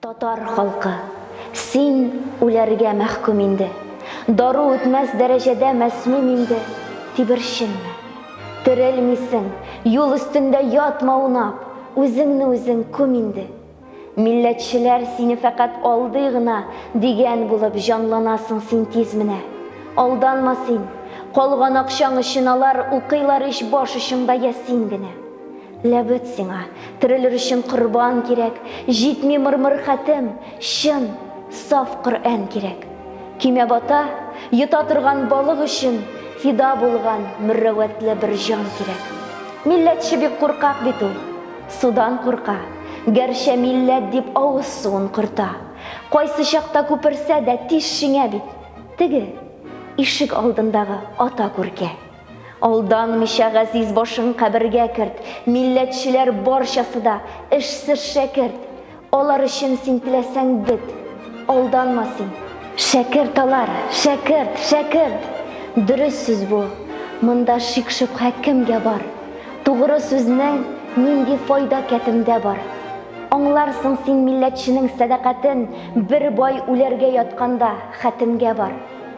Татар халкы, син үләргә мәхкүм инде, Дару үтмәс дәрәҗәдә мәсмүм инде, Тиберченме? Терелмисең, юл өстендә ятма унап, Үзеңне үзең күм инде. Милләтчеләр сине фәкать алдый гына, Дигән булып җанланасың син тиз менә. Алданма син, калган акчаң өчен алар Укыйлар ич баш очыңда Ясин генә. Ләбед сиңа, терелер өчен корбан кирәк, Җитми мырмыр хәтем, чын, саф Коръән кирәк. Көймә бата, йота торган балык өчен Фида булган мөррәвәтле бер җан кирәк. Милләтче бик куркак бит ул, судан курка, Гәрчә милләт дип авыз суын корта. Кайсы чакта күперсә дә тиз шиңә бит Теге, ишек алдындагы ата күркә. Алданмича газиз башың кабергә керт, Милләтчеләр барчасы да, эшсез шәкерт. Алар өчен син теләсәң бет, алданма син. Шәкерт алар, шәкерт, шәкерт! Дөрес сүз бу, монда шик-шөбһә кемгә бар? Тугры сүзнең нинди файда кәтемдә бар? Аңларсың син милләтченең сәдакатен, Бер бай үләргә ятканда хәтемгә бар.